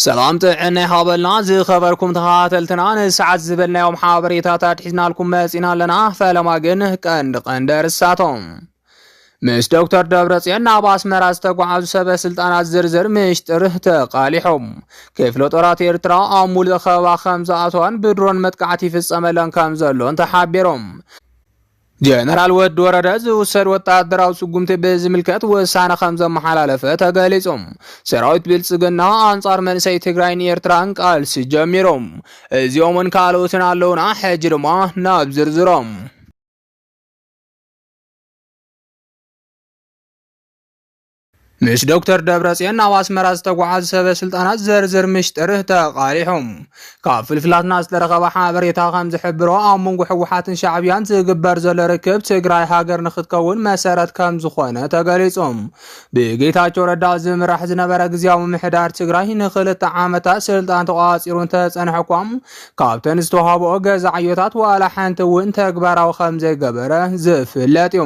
ሰላም ጥዕና ይሃበልና ዝኸበርኩም ተኸታተልትና ንሰዓት ዝበልናዮም ሓበሬታታት ሒዝናልኩም መጺና ኣለና። ፈለማ ግን ቀንዲ ቀንዲ እርሳቶም ምስ ዶክተር ደብረጽዮን ናብ ኣስመራ ዝተጓዓዙ ሰበ ስልጣናት ዝርዝር ምሽጥር ተቓሊሖም ክፍለ ጦራት ኤርትራ ኣብ ሙሉእ ከበባ ከም ዝኣተዋን ብድሮን መጥቃዕቲ ይፍጸመለን ከም ዘሎን ተሓቢሮም ጀነራል ወዲ ወረደ ዝውሰድ ወታደራዊ ስጉምቲ ብዝምልከት ውሳነ ከም ዘመሓላለፈ ተገሊጹ። ሰራዊት ብልጽግና ኣንጻር መንእሰይ ትግራይን ኤርትራን ቃልሲ ጀሚሩ። እዚኦምን ካልኦትን ኣለውና። ሕጂ ድማ ናብ ዝርዝሮም ምስ ዶክተር ደብረጽዮን ናብ ኣስመራ ዝተጓዓዙ ሰበ ስልጣናት ዝርዝር ምሽጥር ተቓሊሖም። ካብ ፍልፍላትና ዝተረኸበ ሓበሬታ ከም ዝሕብሮ ኣብ መንጎ ህወሓትን ሻዕብያን ዝግበር ዘሎ ርክብ ትግራይ ሃገር ንክትከውን መሰረት ከም ዝኾነ ተገሊጾም። ብጌታቸው ረዳ ዝምራሕ ዝነበረ ግዜያዊ ምሕዳር ትግራይ ንክልተ ዓመታት ስልጣን ተቋፂሩ እንተፀንሐ እኳ ካብተን ዝተዋህበኦ ገዛ ዕዮታት ዋላ ሓንቲ እውን ተግባራዊ ከም ዘይገበረ ዝፍለጥ እዩ።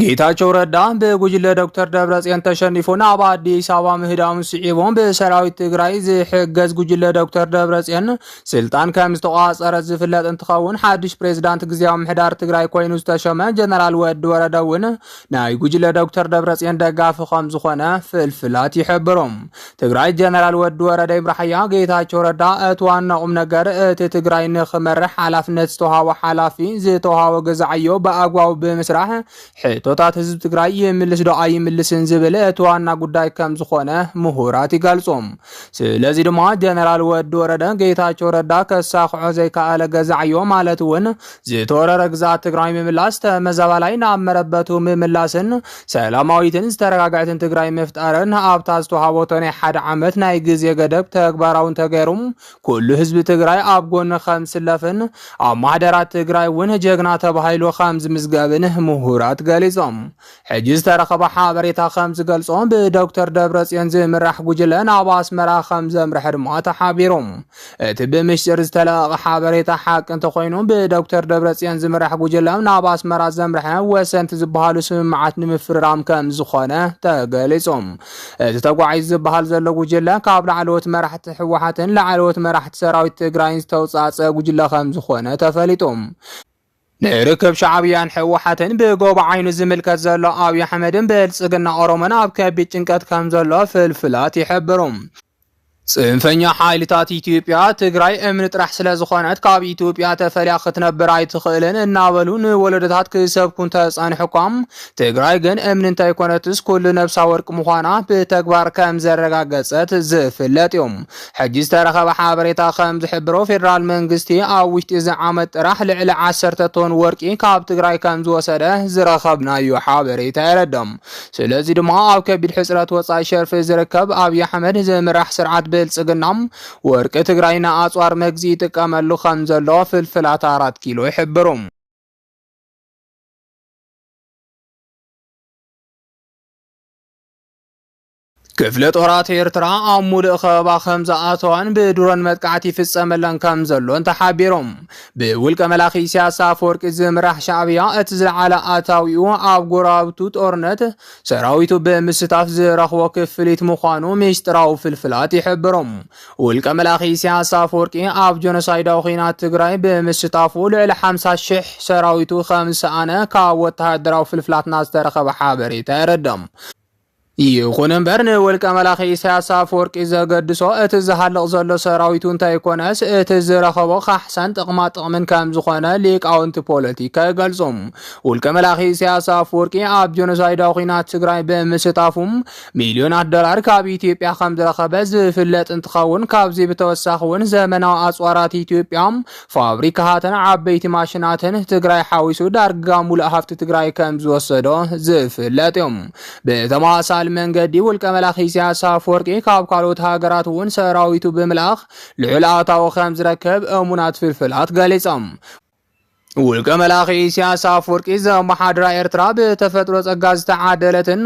ጌታቸው ረዳ ብጉጅለ ዶክተር ደብረፅዮን ተሸኒፉ ናብ ኣዲስ ኣበባ ምህዳሙ ስዒቡ ብሰራዊት ትግራይ ዝሕገዝ ጉጅለ ዶክተር ደብረፅዮን ስልጣን ከም ዝተቋፀረ ዝፍለጥ እንትኸውን ሓድሽ ፕሬዚዳንት ግዜያዊ ምሕዳር ትግራይ ኮይኑ ዝተሸመ ጀነራል ወዲ ወረደ እውን ናይ ጉጅለ ዶክተር ደብረፅዮን ደጋፊ ከም ዝኾነ ፍልፍላት ይሕብሩ። ትግራይ ጀነራል ወዲ ወረደ ይብራሕያ ጌታቸው ረዳ እቲ ዋና ቁም ነገር እቲ ትግራይ ንክመርሕ ሓላፍነት ዝተውሃቦ ሓላፊ ዝተውሃቦ ገዛዓዮ ብኣግባቡ ብምስራሕ ሕቶታት ህዝቢ ትግራይ ይምልስ ዶ ኣይምልስን ዝብል እቲ ዋና ጉዳይ ከም ዝኾነ ምሁራት ይገልጹ። ስለዚ ድማ ጀነራል ወዲ ወረደ ጌታቸው ረዳ ከሳክዖ ዘይከኣለ ገዛዓዮ ማለት እውን ዝተወረረ ግዛት ትግራይ ምምላስ ተመዛባላይ ናብ መረበቱ ምምላስን ሰላማዊትን ዝተረጋግዐትን ትግራይ ምፍጣርን ኣብታ ዝተዋሃበቶ ናይ ሓደ ዓመት ናይ ግዜ ገደብ ተግባራውን ተገይሩ ኩሉ ህዝቢ ትግራይ ኣብ ጎኒ ከም ዝስለፍን ኣብ ማሕደራት ትግራይ እውን ጀግና ተባሂሉ ከም ዝምዝገብን ምሁራት ገሊፆም። ሕጂ ዝተረኸበ ሓበሬታ ከም ዝገልጾ ብዶክተር ደብረጽዮን ዝምራሕ ጉጅለ ናብ ኣስመራ ከም ዘምርሐ ድማ ተሓቢሩ። እቲ ብምሽጥር ዝተለቐቐ ሓበሬታ ሓቂ እንተኾይኑ ብዶክተር ደብረፅዮን ዝምራሕ ጉጅለ ናብ ኣስመራ ዘምርሐ ወሰንቲ ዝበሃሉ ስምምዓት ንምፍርራም ከም ዝኾነ ተገሊጹ። እቲ ተጓዒዙ ዝበሃል ዘሎ ጉጅለ ካብ ላዕለዎት መራሕቲ ህወሓትን ላዕለዎት መራሕቲ ሰራዊት ትግራይን ዝተውፃፀ ጉጅለ ከም ዝኾነ ተፈሊጡ። ንርክብ ሻዕብያን ሕወሓትን ብጎቦ ዓይኑ ዝምልከት ዘሎ ኣብይ ኣሕመድን ብልፅግና ኦሮሞን ኣብ ከቢድ ጭንቀት ከም ዘሎ ፍልፍላት ይሕብሩ። ፅንፈኛ ሓይልታት ኢትዮጵያ ትግራይ እምኒ ጥራሕ ስለዝኾነት ካብ ኢትዮጵያ ተፈልያ ክትነብር ኣይትኽእልን እናበሉ ንወለዶታት ክሰብኩ እንተፀንሑ እኳ ትግራይ ግን እምኒ እንተይኮነትስ ኩሉ ነብሳ ወርቂ ምዃና ብተግባር ከም ዘረጋገፀት ዝፍለጥ እዩ። ሕጂ ዝተረኸበ ሓበሬታ ከም ዝሕብሮ ፌደራል መንግስቲ ኣብ ውሽጢ እዚ ዓመት ጥራሕ ልዕሊ ዓሰርተ ቶን ወርቂ ካብ ትግራይ ከም ዝወሰደ ዝረኸብናዮ ሓበሬታ የረድም። ስለዚ ድማ ኣብ ከቢድ ሕፅረት ወፃኢ ሸርፊ ዝርከብ ኣብይ ኣሕመድ ዝምራሕ ስርዓት ብልፅግና ወርቂ ትግራይ ንኣፅዋር መግዚ ይጥቀመሉ ከም ዘሎ ፍልፍላት ኣራት ኪሎ ይሕብሩ። ክፍለ ጦራት ኤርትራ ኣብ ሙሉእ ከበባ ከም ዝኣተዋን ብድሮን መጥቃዕቲ ይፍጸመለን ከም ዘሎን ተሓቢሮም። ብውልቀ መላኺ ኢሳያስ ኣፈወርቂ ዝምራሕ ሻዕብያ እቲ ዝለዓለ ኣታዊኡ ኣብ ጎረባብቱ ጦርነት ሰራዊቱ ብምስታፍ ዝረኽቦ ክፍሊት ምዃኑ ሚስጢራዊ ፍልፍላት ይሕብሮም። ውልቀ መላኺ ኢሳያስ ኣፈወርቂ ኣብ ጆኖሳይዳዊ ኩናት ትግራይ ብምስታፉ ልዕሊ 50 ሽሕ ሰራዊቱ ከም ዝሰኣነ ካብ ወተሃደራዊ ፍልፍላትና ዝተረኸበ ሓበሬታ የረድእ። ይኹን እምበር ንወልቀ መላኺ ኢሳያስ ኣፈወርቂ ዘገድሶ እቲ ዝሃልቕ ዘሎ ሰራዊቱ እንተይኮነስ እቲ ዝረኸቦ ካሕሳን ጥቕማ ጥቕምን ከም ዝኾነ ሊቃውንቲ ፖለቲካ ይገልጹ። ውልቀ መላኺ ኢሳያስ ኣፈወርቂ ኣብ ጆኖሳይዳዊ ኲናት ትግራይ ብምስታፉ ሚልዮናት ዶላር ካብ ኢትዮጵያ ከም ዝረኸበ ዝፍለጥ እንትኸውን ካብዚ ብተወሳኺ እውን ዘመናዊ ኣጽዋራት ኢትዮጵያ ፋብሪካታትን ዓበይቲ ማሽናትን ትግራይ ሓዊሱ ዳርጋ ሙሉእ ሃፍቲ ትግራይ ከም ዝወሰዶ ዝፍለጥ እዩ። ብተመሳሳሊ መንገዲ ውልቀ መላኺ ኢሳያስ ኣፈወርቂ ካብ ካልኦት ሃገራት እውን ሰራዊቱ ብምልኣኽ ልዑል ኣታዊ ከም ዝረከብ እሙናት ፍልፍላት ገሊጾም። ውልቀ መላኺ ኢሳያስ ኣፈወርቂ ዘመሓድራ ኤርትራ ብተፈጥሮ ጸጋ ዝተዓደለትን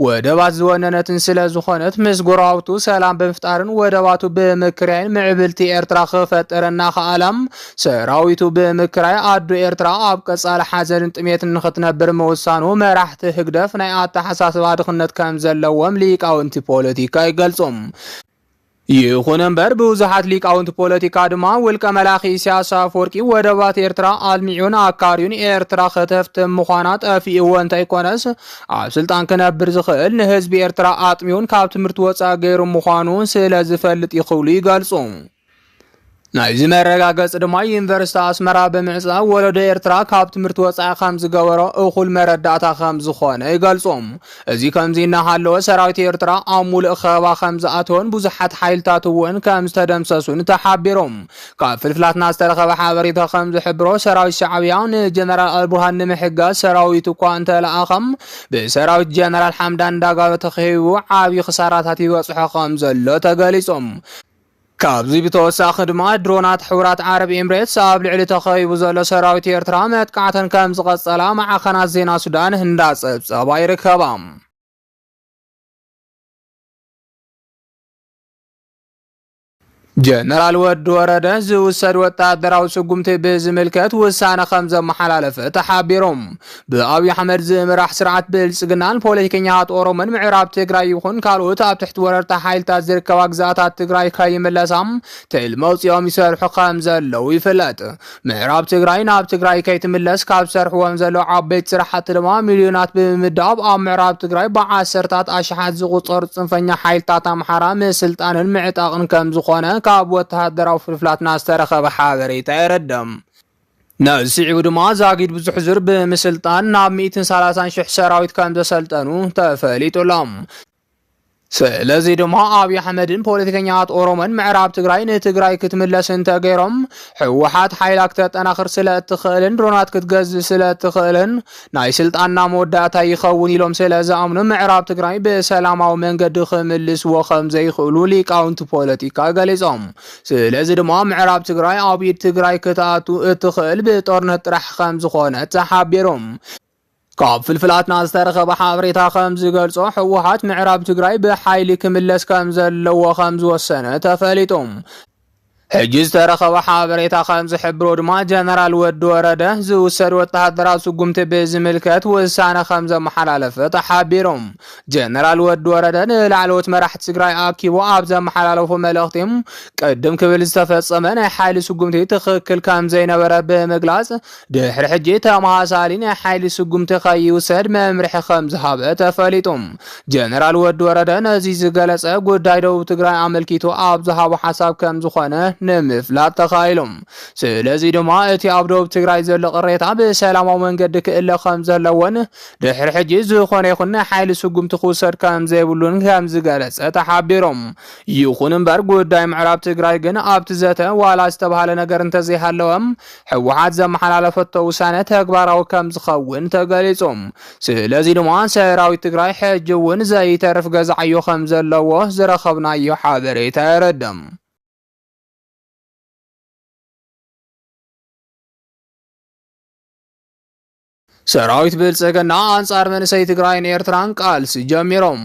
ወደባት ዝወነነትን ስለ ዝኾነት ምስ ጎረባብቱ ሰላም ብምፍጣርን ወደባቱ ብምክርያይን ምዕብልቲ ኤርትራ ክፈጥር እናኸኣለ ሰራዊቱ ብምክራይ ኣዶ ኤርትራ ኣብ ቀጻሊ ሓዘንን ጥሜትን ንኽትነብር ምውሳኑ መራሕቲ ህግደፍ ናይ ኣተሓሳስባ ድኽነት ከም ዘለዎም ሊቃውንቲ ፖለቲካ ይገልጹ። ይኹን እምበር ብዙሓት ሊቃውንቲ ፖለቲካ ድማ ውልቀ መላኺ ኢሳያስ ኣፈወርቂ ወደባት ኤርትራ ኣልሚዑን ኣካርዩን ኤርትራ ከተፍትም ምዃና ጠፊእዎ እንተይኮነስ ኣብ ስልጣን ክነብር ዝኽእል ንህዝቢ ኤርትራ ኣጥሚውን ካብ ትምህርቲ ወፃኢ ገይሩ ምዃኑ ስለ ዝፈልጥ ይኽብሉ ይገልጹ። ናይዚ መረጋገፂ ድማ ዩኒቨርሲቲ ኣስመራ ብምዕፃው ወለዶ ኤርትራ ካብ ትምህርቲ ወፃኢ ከም ዝገበሮ እኹል መረዳእታ ከም ዝኾነ ይገልፁ። እዚ ከምዚ እናሃለወ ሰራዊት ኤርትራ ኣብ ሙሉእ ከበባ ከም ዝኣተወን ብዙሓት ሓይልታት እውን ከም ዝተደምሰሱን ተሓቢሩ። ካብ ፍልፍላትና ዝተረኸበ ሓበሬታ ከም ዝሕብሮ ሰራዊት ሻዕብያ ንጀነራል ኣልቡርሃን ንምሕጋዝ ሰራዊት እኳ እንተለኣኸም ብሰራዊት ጀነራል ሓምዳን ዳጋሎ ተኸቢቡ ዓብዪ ክሳራታት ይበፅሖ ከም ዘሎ ተገሊፆም። ካብዚ ብተወሳኺ ድማ ድሮናት ሕቡራት ዓረብ ኤምሬትስ ኣብ ልዕሊ ተኸቢቡ ዘሎ ሰራዊት ኤርትራ መጥቃዕተን ከም ዝቐጸላ ማዕኸናት ዜና ሱዳን እንዳጸብጸባ ይርከባ። ጀነራል ወዲ ወረደ ዝውሰድ ወታደራዊ ስጉምቲ ብዝምልከት ውሳነ ከም ዘመሓላለፈ ተሓቢሮም ብኣብዪ ኣሕመድ ዝምራሕ ስርዓት ብልፅግናን ፖለቲከኛታት ኦሮሞን ምዕራብ ትግራይ ይኹን ካልኦት ኣብ ትሕቲ ወረርቲ ሓይልታት ዝርከባ ግዛኣታት ትግራይ ከይምለሳ ትልሚ ኣውፂኦም ይሰርሑ ከም ዘለዉ ይፍለጥ። ምዕራብ ትግራይ ናብ ትግራይ ከይትምለስ ካብ ዝሰርሕዎም ዘለዉ ዓበይቲ ስራሕቲ ድማ ሚልዮናት ብምምዳብ ኣብ ምዕራብ ትግራይ ብዓሰርታት ኣሽሓት ዝቑፀሩ ፅንፈኛ ሓይልታት ኣምሓራ ምስልጣንን ምዕጣቕን ከም ዝኾነ ካብ ወተሃደራዊ ፍልፍላትና ዝተረኸበ ሓበሬታ የረድም። ነዚ ስዒቡ ድማ ዛጊድ ብዙሕ ዙር ብምስልጣን ናብ ሚእትን ሰላሳን ሽሕ ሰራዊት ከም ዘሰልጠኑ ተፈሊጡሎም። ስለዚ ድማ ኣብዪ ኣሕመድን ፖለቲከኛት ኦሮሞን ምዕራብ ትግራይ ንትግራይ ክትምለስ እንተገይሮም ህወሓት ሓይላ ክተጠናኽር ስለ እትኽእልን ድሮናት ክትገዝእ ስለ እትኽእልን ናይ ስልጣንና መወዳእታ ይኸውን ኢሎም ስለ ዝኣምኑ ምዕራብ ትግራይ ብሰላማዊ መንገዲ ክምልስዎ ከም ዘይኽእሉ ሊቃውንቲ ፖለቲካ ገሊጾም። ስለዚ ድማ ምዕራብ ትግራይ ኣብ ኢድ ትግራይ ክትኣቱ እትኽእል ብጦርነት ጥራሕ ከም ዝኾነ ተሓቢሩ። ካብ ፍልፍላትና ዝተረኸበ ሓበሬታ ከም ዝገልጾ ህወሓት ምዕራብ ትግራይ ብሓይሊ ክምለስ ከም ዘለዎ ከም ዝወሰነ ተፈሊጡ። ሕጂ ዝተረኸበ ሓበሬታ ከም ዝሕብሮ ድማ ጀነራል ወዲ ወረደ ዝውሰድ ወተሃደራዊ ስጉምቲ ብዝምልከት ውሳነ ከም ዘመሓላለፈ ተሓቢሩ። ጀነራል ወዲ ወረደ ንላዕለዎት መራሕቲ ትግራይ ኣኪቡ ኣብ ዘመሓላለፎ መልእኽቲ ቅድም ክብል ዝተፈጸመ ናይ ሓይሊ ስጉምቲ ትኽክል ከም ዘይነበረ ብምግላጽ ድሕሪ ሕጂ ተመሳሳሊ ናይ ሓይሊ ስጉምቲ ከይውሰድ መምርሒ ከም ዝሃበ ተፈሊጡ። ጀነራል ወዲ ወረደ ነዚ ዝገለጸ ጉዳይ ደቡብ ትግራይ ኣመልኪቱ ኣብ ዝሃቦ ሓሳብ ከም ዝኾነ ንምፍላጥ ተኻኢሉ። ስለዚ ድማ እቲ ኣብ ደቡብ ትግራይ ዘሎ ቅሬታ ብሰላማዊ መንገዲ ክእለ ከም ዘለዎን ድሕሪ ሕጂ ዝኾነ ይኹን ሓይሊ ስጉምቲ ክውሰድ ከምዘይብሉን ከምዝገለጸ ተሓቢሩ። ይኹን እምበር ጉዳይ ምዕራብ ትግራይ ግን ኣብቲ ዘተ ዋላ ዝተብሃለ ነገር እንተዘይሃለወ ህወሓት ዘመሓላለፈቶ ውሳነ ተግባራዊ ከምዝኸውን ተገሊጹ። ስለዚ ድማ ሰራዊት ትግራይ ሕጂ እውን ዘይተርፍ ገዛ ዕዮ ከምዘለዎ ዝረኸብናዮ ሓበሬታ የረድእ። ሰራዊት ብልጽግና ኣንጻር መንእሰይ ትግራይን ኤርትራን ቃልሲ ጀሚሮም።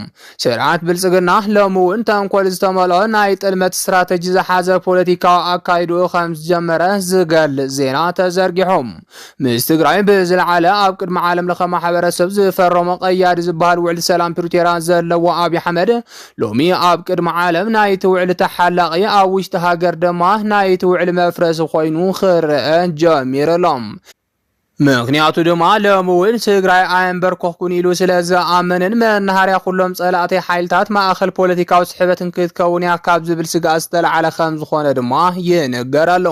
ስርዓት ብልጽግና ሎሚ እውን ተንኮል ዝተመልኦ ናይ ጥልመት ስትራተጂ ዝሓዘ ፖለቲካዊ ኣካይድኡ ከም ዝጀመረ ዝገልጽ ዜና ተዘርጊሖም ምስ ትግራይ ብዝለዓለ ኣብ ቅድሚ ዓለም ለኸ ማሕበረሰብ ዝፈረሞ ቀያዲ ዝበሃል ውዕሊ ሰላም ፕሪቶርያ ዘለዎ ኣብዪ ኣሕመድ ሎሚ ኣብ ቅድሚ ዓለም ናይቲ ውዕሊ ተሓላቒ ኣብ ውሽጢ ሃገር ድማ ናይቲ ውዕሊ መፍረሲ ኮይኑ ክረአ ጀሚሩ ኣሎ። ምኽንያቱ ድማ ሎሚ እውን ትግራይ ኣየንበርከኹኩን ኢሉ ስለ ዝኣመነን መናሃርያ ኩሎም ፀላእተይ ሓይልታት ማእኸል ፖለቲካዊ ስሕበትን ክትከውን እያ ካብ ዝብል ስግኣት ዝተልዓለ ከም ዝኾነ ድማ ይንገር ኣሎ።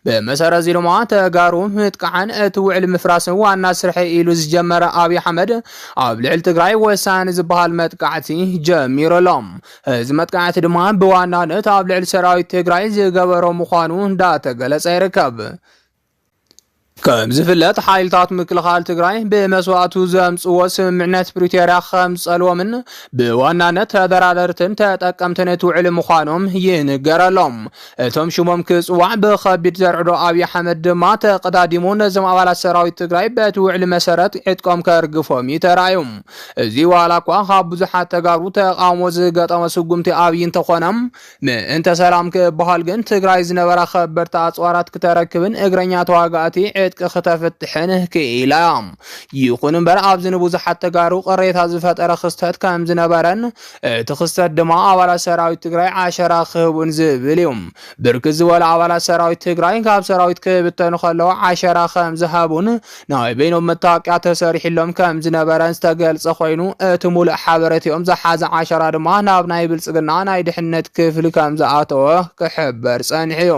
ብመሰረት እዚ ድማ ተጋሩ ምጥቃዕን እቲ ውዕሊ ምፍራስን ዋና ስርሐይ ኢሉ ዝጀመረ ኣብይ ኣሕመድ ኣብ ልዕሊ ትግራይ ወሳኒ ዝበሃል መጥቃዕቲ ጀሚሩ ኣሎ። እዚ መጥቃዕቲ ድማ ብዋናነት ኣብ ልዕሊ ሰራዊት ትግራይ ዝገበሮ ምዃኑ እንዳተገለፀ ይርከብ። ከም ዝፍለጥ ሓይልታት ምክልኻል ትግራይ ብመስዋእቱ ዘምፅዎ ስምምዕነት ፕሪቶርያ ከም ዝፀልዎምን ብዋናነት ተደራደርትን ተጠቀምትን እቲ ውዕሊ ምዃኖም ይንገረሎም። እቶም ሽሞም ክፅዋዕ ብከቢድ ዘርዕዶ ኣብዪ ኣሕመድ ድማ ተቀዳዲሙ ነዞም ኣባላት ሰራዊት ትግራይ በቲ ውዕሊ መሰረት ዕጥቆም ከርግፎም እዩ ተራእዩ። እዚ ዋላ እኳ ካብ ብዙሓት ተጋሩ ተቃውሞ ዝገጠሞ ስጉምቲ ኣብዪ እንተኾነ ምእንተ ሰላም ክበሃል ግን ትግራይ ዝነበራ ከበድቲ ኣፅዋራት ክተረክብን እግረኛ ተዋጋእቲ ዕጥቂ ክተፍትሕን ክኢላ እያ። ይኹን እምበር ኣብዚ ንብዙሓት ተጋሩ ቅሬታ ዝፈጠረ ክስተት ከም ዝነበረን እቲ ክስተት ድማ ኣባላት ሰራዊት ትግራይ ዓሸራ ክህቡን ዝብል እዩ። ብርክት ዝበሉ ኣባላት ሰራዊት ትግራይ ካብ ሰራዊት ክብተኑ ከለዉ ዓሸራ ከም ዝሃቡን ናይ በይኖም መታወቅያ ተሰሪሕሎም ከም ዝነበረን ዝተገልጸ ኮይኑ እቲ ሙሉእ ሓበረቲኦም ዝሓዘ ዓሸራ ድማ ናብ ናይ ብልጽግና ናይ ድሕነት ክፍሊ ከም ዝኣተወ ክሕበር ጸኒሑዩ።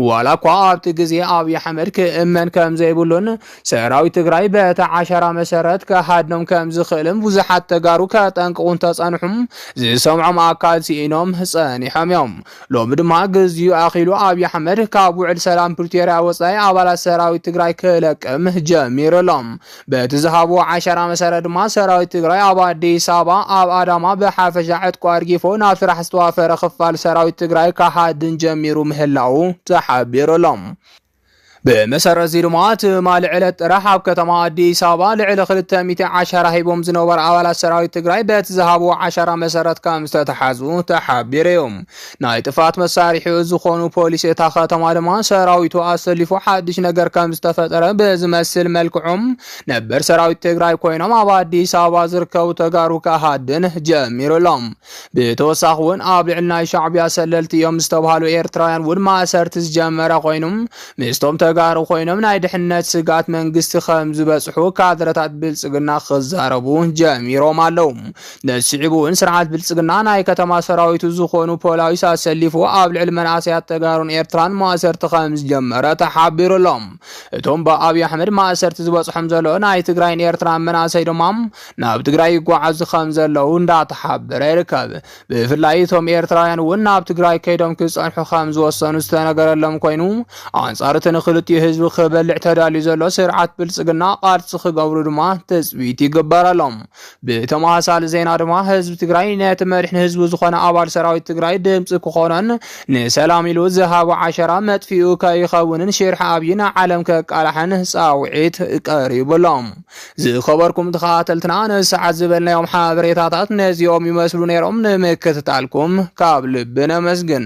ዋላ እኳ ኣብቲ ግዜ ኣብይ ኣሕመድ ክእመን ከም ዘይብሉን ሰራዊት ትግራይ በቲ ዓሸራ መሰረት ክሃድኖም ከም ዝኽእልን ብዙሓት ተጋሩ ከጠንቅቑ እንተጸንሑም ዝሰምዖም ኣካል ሲኢኖም ጸኒሖምዮም። ሎሚ ድማ ግዚኡ ኣኺሉ ኣብይ ኣሕመድ ካብ ውዕል ሰላም ፕሪቶርያ ወፃኢ ኣባላት ሰራዊት ትግራይ ክለቅም ጀሚሩ ኣሎ። በቲ ዝሃብዎ ዓሸራ መሰረት ድማ ሰራዊት ትግራይ ኣብ ኣዲስ ኣበባ፣ ኣብ ኣዳማ ብሓፈሻ ዕጥቁ ኣርጊፎ ናብ ስራሕ ዝተዋፈረ ክፋል ሰራዊት ትግራይ ክሃድን ጀሚሩ ምህላዉ ተሓቢሩ ኣሎ። ብመሰረት እዚ ድማ ትማሊ ዕለት ጥራሕ ኣብ ከተማ ኣዲስ ኣበባ ልዕሊ ክልተ ሚእቲ ዓሻራ ሂቦም ዝነበሩ ኣባላት ሰራዊት ትግራይ በቲ ዝሃብዎ ዓሻራ መሰረት ከም ዝተተሓዙ ተሓቢሩ እዩ። ናይ ጥፍኣት መሳርሒኡ ዝኾኑ ፖሊስ እታ ከተማ ድማ ሰራዊቱ ኣሰሊፉ ሓድሽ ነገር ከም ዝተፈጠረ ብዝመስል መልክዖም ነበር ሰራዊት ትግራይ ኮይኖም ኣብ ኣዲስ ኣበባ ዝርከቡ ተጋሩ ክሃድን ጀሚሩ ኣሎም። ብተወሳኺ ውን ኣብ ልዕሊ ናይ ሻዕቢያ ሰለልቲ እዮም ዝተብሃሉ ኤርትራውያን ውን ማእሰርቲ ዝጀመረ ኮይኑ ምስቶም ተጋሩ ኮይኖም ናይ ድሕነት ስጋት መንግስቲ ከም ዝበፅሑ ካድረታት ብልፅግና ክዛረቡ ጀሚሮም ኣለው። ነዚ ስዒቡ ውን ስርዓት ብልፅግና ናይ ከተማ ሰራዊቱ ዝኾኑ ፖላዊስ ኣሰሊፉ ኣብ ልዕሊ መንእሰያት ተጋሩን ኤርትራን ማእሰርቲ ከም ዝጀመረ ተሓቢሩ ኣሎ። እቶም ብኣብይ ኣሕመድ ማእሰርቲ ዝበፅሖም ዘሎ ናይ ትግራይን ኤርትራን መናእሰይ ድማ ናብ ትግራይ ይጓዓዙ ከም ዘለዉ እንዳተሓበረ ይርከብ። ብፍላይ እቶም ኤርትራውያን እውን ናብ ትግራይ ከይዶም ክጸንሑ ከም ዝወሰኑ ዝተነገረሎም ኮይኑ ኣንጻር እቲ ንክልቲኡ ህዝቢ ክበልዕ ተዳልዩ ዘሎ ስርዓት ብልጽግና ቃልሲ ክገብሩ ድማ ትጽቢት ይግበረሎም። ብተመሳሳሊ ዜና ድማ ህዝቢ ትግራይ ነቲ መሪሕን ህዝቢ ዝኾነ ኣባል ሰራዊት ትግራይ ድምፂ ክኾኖን ንሰላም ኢሉ ዝሃቦ ዓሸራ መጥፊኡ ከይኸውንን ሽርሒ ኣብይ ንዓለም ከቃላሕን ፃውዒት ቀሪቡሎም። ዝኸበርኩም ተኸታተልትና ንሰዓት ዝበልናዮም ሓበሬታታት ነዚኦም ይመስሉ ነይሮም። ንምክትታልኩም ካብ ልቢ ነመስግን።